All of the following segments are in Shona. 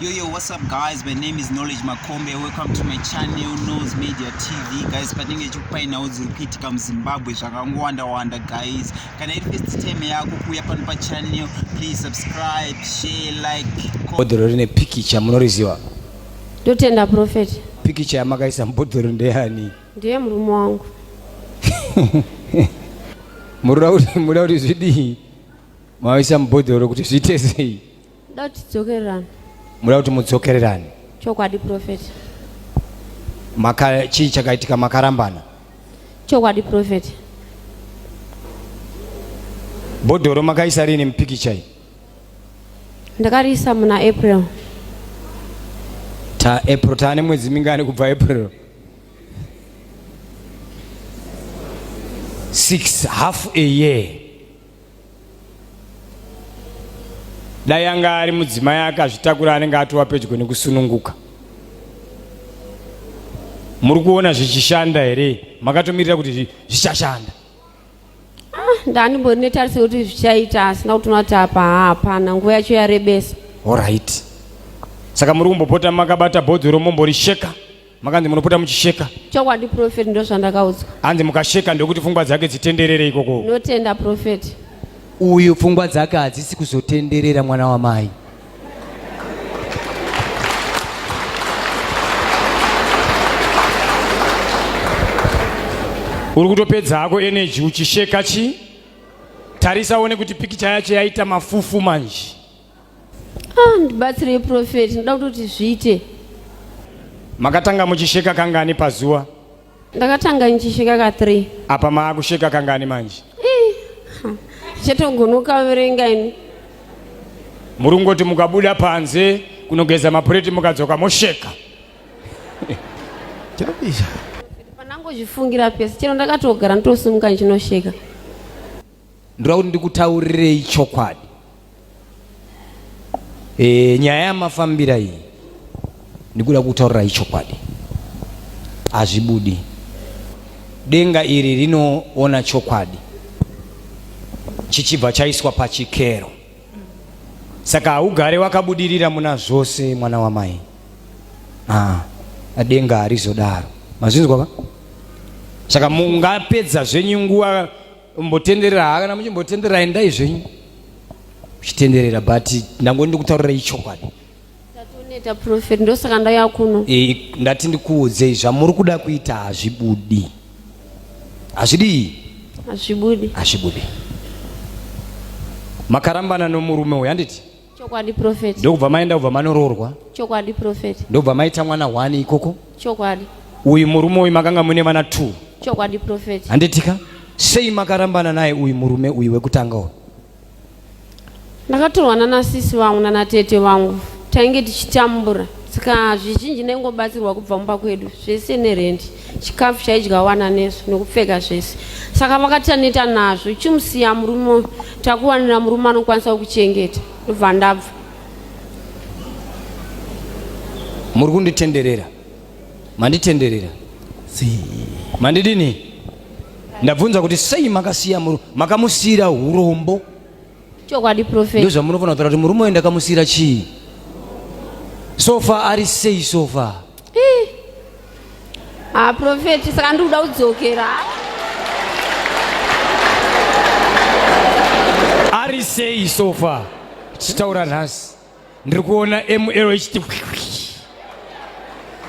Yo, yo, what's up guys? My name is Knowledge Makombe. Welcome to my channel, Nose Media TV. Guys, patinge chikupainawo dziri kuitika muZimbabwe zvakangowanda-wanda guys. Kana iri first time yako kuuya pano pachannel, please subscribe, share, like. Bhodhoro rine pikicha munoriziva? Ndotenda prophet. Pikicha yamakaisa mubhodhoro ndeyani? Ndiye murume wangu. Murira kuti zvidii? Mawaisa mubhodhoro kuti zviite sei? Ndoda kuti tidzokererane. Muda kuti mudzokererane. Chokwadi prophet. Maka chii chakaitika makarambana? Chokwadi prophet. Bhodhoro makaisa rini mupikicha iyi? Ndakariisa muna April. Ta April taane mwedzi mingani kubva April? 6 half a year. dai anga ari mudzimai akazvitakura anenge atova pedyo nekusununguka muri kuona zvichishanda here makatomirira kuti zvichashanda ah, ndandimbori netarisa kuti zvichaita asina kuti unati apa hapana nguva yacho yarebesa orit saka muri kumbopota makabata bhodzi romombori sheka Makanzi munopota muchisheka. Chokwadi prophet ndozvandakaudzwa. Hanzi mukasheka ndokuti pfungwa dzake dzitenderere ikoko. Notenda prophet. Uyu pfungwa dzake hadzisi kuzotenderera mwana wamai. Uri kutopedza hako energy uchisheka chi? Tarisa one kuti pikicha yacho yaita mafufu manje. Ah, ndibatsirei profeti, ndoda kutoti zviite. Makatanga muchisheka kangani pazuva? Ndakatanga ndichisheka ka 3. Apa maakusheka kangani manje? Eh, ha, chatogonoka verenga ini. Muri kungoti mukabuda panze kunogeza mapureti mukadzoka mosheka. Chabisha. Pandangozvifungira pese, chero ndakatogara ndotosimuka ndichinosheka. ndoda kuti ndikutaurirei chokwadi e, nyaya yamafambira iyi ndikuda kutaurirai chokwadi hazvibudi denga iri rinoona chokwadi chichibva chaiswa pachikero saka haugare wakabudirira muna zvose mwana wamai ah, denga harizodaro mazvinzwa va saka mungapedza zvenyu nguva mbotenderera hakana muchimbotenderera endai zvenyu muchitenderera but ndango ndikutaurirai chokwadi tatoneta profet ndosaka ndaya kuno e, ndati ndikuudzei zvamuri kuda kuita hazvibudi hazvidii hazvibudi hazvibudi makarambana nomurume uyu handiti Chokwadi prophet. Ndokubva maenda kubva manoroorwa. Chokwadi prophet. Ndokubva maita mwana one ikoko. Chokwadi. Uyu murume uyu makanga mune vana two. Chokwadi prophet. Handitika sei makarambana naye uyu murume uyu wekutanga uyu? Ndakatorwa nana sisi vangu nana tete vangu tainge tichitambura saka zvizhinji ndaingobatsirwa kubva mumba kwedu zvese nerendi chikafu chaidya wana nesu nokupfeka zvese saka makati taneta nazvo chimusiya murume uyu takuwanira murume anokwanisa kukuchengeta ndobva ndabva muri kunditenderera manditenderera mandidini ndabvunza kuti sei makasiya makamusiyira urombo chokwadi profet ndozvamunofanira kutaura kuti murume uyu ndakamusiyira chii sofa ari sei sofa Ah, prophet, saka ndikuda kudzokera. Ari sei so far? Tichitaura nhasi. Ndiri kuona ML ichiti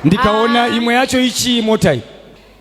ndikaona ah. imwe yacho ichii mota iyi.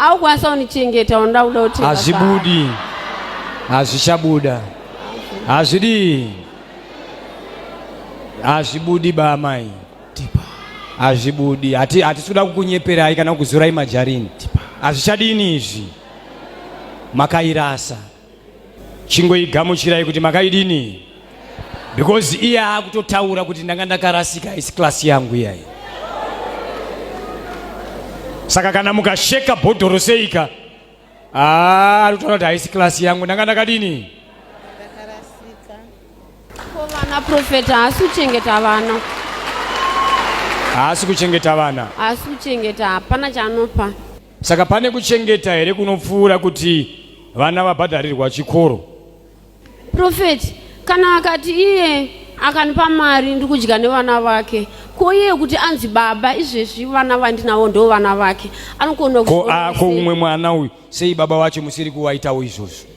aukwanisa unichengeta unoda kuda kuti hazvibudi hazvichabuda hazvidii hazvibudi baamai hazvibudi hatisi kuda kukunyeperai kana kukuzurai majarini hazvichadini izvi makairasa chingoigamuchirai kuti makaidini because iye akutotaura kuti ndanga ndakarasika haisi klasi yangu iyayi saka kana mukasheka bhodhoro seika ah, arikutaura kuti haisi klasi yangu ndanga ndakadini vana profeta haasi kuchengeta vana haasi kuchengeta vana haasi kuchengeta hapana chanopa Saka pane kuchengeta here kunopfuura kuti vana vabhadharirwa chikoro? Prophet, kana akati iye akandipa mari ndikudya nevana vake ko iye kuti anzi baba izvezvi vana vandinawo ndo vana vake anokona ko ako umwe mwana uyu sei baba wacho musiri kuwaitawo izvozvo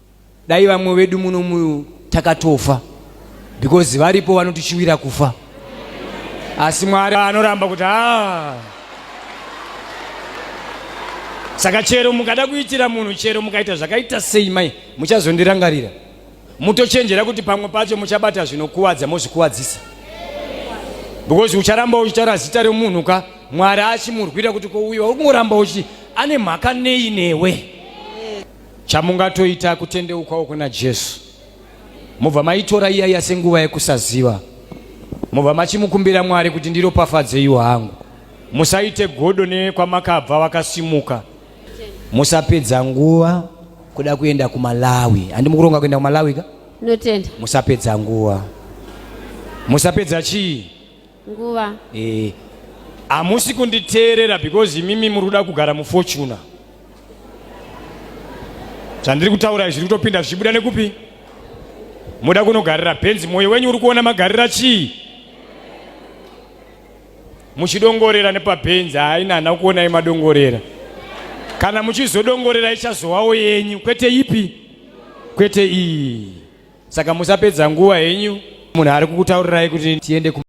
Dai vamwe vedu muno mu takatofa because varipo vanotichiwira kufa asi Mwari anoramba kuti haa saka chero mukada kuitira munhu chero mukaita zvakaita sei mai muchazondirangarira mutochenjera kuti pamwe pacho muchabata zvinokuvadza mozvikuvadzisa because ucharamba uchitaura zita remunhu ka mwari achimurwira kuti kouyiwa uri kungoramba uchi ane mhaka nei newe Chamungatoita kutendeukawo kuna Jesu, mobva maitora iyaiya senguva yekusaziva, mobva machimukumbira Mwari kuti ndiropafadzeiwo hangu. Musaite godo nekwamakabva wakasimuka. Musapedza nguva kuda kuenda kuMalawi. Handi mukuronga kuenda kuMalawi ka? Notenda. Musapedza nguva. Musapedza chii? nguva eh hamusi kunditeerera because imimi muri kuda kugara mufortuna zvandiri kutaura zviri kutopinda zvichibuda nekupi moda kunogarira benzi mwoyo wenyu uri kuona magarira chii muchidongorera nepabenzi haina hana kuonai madongorera kana muchizodongorera ichazowawo yenyu kwete ipi kwete iyi saka musapedza nguva henyu munhu ari kukutaurirai kuti tiende